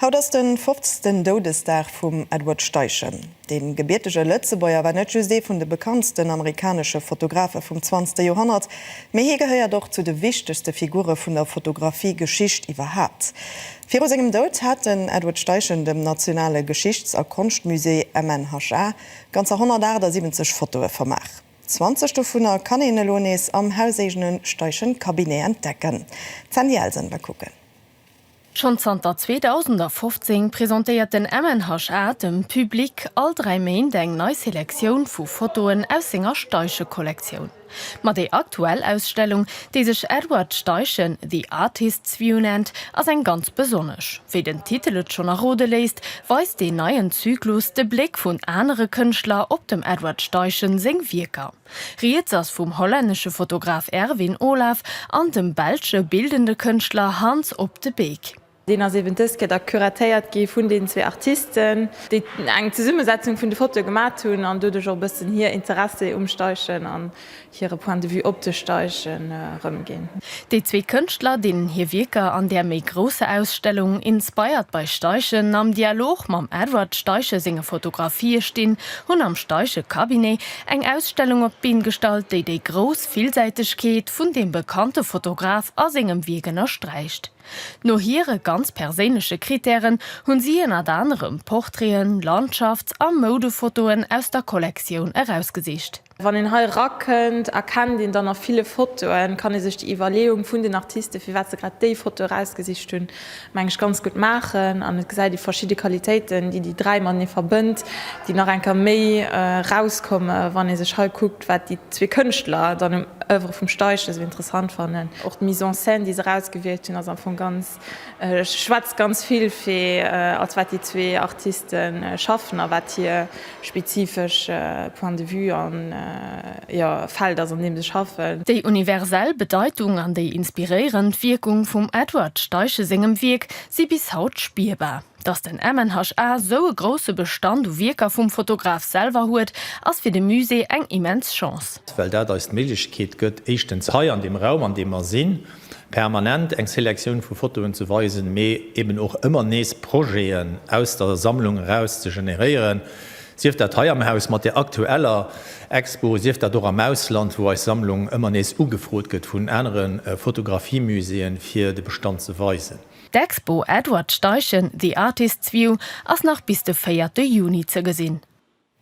Haut ass den fofzten Doudesdag vum Edward Steichen. Dee gebiertege Lëtzebuerger war net just ee vun de bekanntsten amerikanesche Fotografe vum zwanzte Joerhonnert, mee hie gehéiert och zu de wichtegste Figure vun der Fotografie-Geschicht iwwerhaapt. Viru sengem Doud hat den Edward Steichen dem Nationale Geschichts a Konschtmusée, MNHK, ganzer 178 Fotoe vermaach. Zwanzeg dovunner kann een elo nees am hauseegene Steichen-Cabinet entdecken. D'Sandy Elsen war kucken. Schonn zanter 2015 presentéiert den MNHA dem Public all dräi Méint eng nei Selektioun vu Fotoen aus senger Steichen-Kollektioun. Ma déi aktuell Ausstellung, déi sech Edward Steichen, The Artist's View nennt, ass eng ganz besonnesch. Wéi den Titel et schonn errode léisst, weist deen neien Zyklus de Bléck vun anere Kënschtler op dem Edward Steichen seng Wierker. Rieds ass vum hollännesche Fotograf Erwin Olaf an dem belsche bildende Kënschtler Hans Op de Beek. Deen ass eben dëst Kéier da curatéiert gi vun deenen zwee Artisten, déi eng Zesummesetzung vun de Fotoe gemat hunn an doduerch och e bëssen hir Interessi um Steichen an hire Point de vue op de Steichen erëmginn. Déi zwee Kënschtler, deenen hir Wierker an där méi grousser Ausstellung Inspired by Steichen am Dialog mam Edward Steichen senge Fotografië stinn, hunn am Steichen-Cabinet Eng Ausstellung op d'Been gestallt, déi déi grouss Villsäitegkeet vun deem bekannte Fotograf a sengem Wierk ënnersträicht. No hire ganz perséinleche Krittären hunn si ënnert anerem Portraiten, Landschafts a Moudefotoen aus der Kollektioun erausgesicht. Wann een hei erakënnt, erkennt een dann a ville Fotoen, kann ee sech déi Iwwerleeung vun den Artisten, firwat se grad déi Foto erausgesicht hunn, meng ech, ganz gutt maachen an et gesäit ee verschidde Qualitéiten, déi déi dräi matenee verbënnt, déi nach eng Kéier méi erauskomme wann ee sech hei kuckt, wat déi zwee Kënschtler dann um Oeuvre vum Steichen esou interessant fannen. Och d'Mise en scène, déi se erausgewielt hunn, ass am Fong ganz, schwätzt ganz vill fir, als wat déi zwee Artiste schaffen a wat hir spezifesch Point de vue a jo, Feld ass, an deem se schaffen. Déi universell Bedeitung an déi inspiréierend Wierkung vum Edward Steichen sengem Wierk si bis haut spierbar. Datt den MNHA esou e grousse Bestand u Wierker vum Fotograf selwer huet, ass fir de Musée eng immens Chance. Well dat eis d'Méiglechkeet gëtt, éischtens hei an deem Raum, an deem mer sinn, permanent eng Selektioun vu Fotoen ze weisen, mee eben och ëmmer nees Projeten aus der Sammlung eraus ze generéieren, sief dat hei am Haus mat der aktueller Expo, sief dat och am Ausland, wou eis Sammlung ëmmer nees ugefrot gëtt vun anere Fotografiemuséeën, fir de Bestand ze weisen. D'Expo Edward Steichen, The Artist's View ass nach bis de véierte Juni ze gesinn.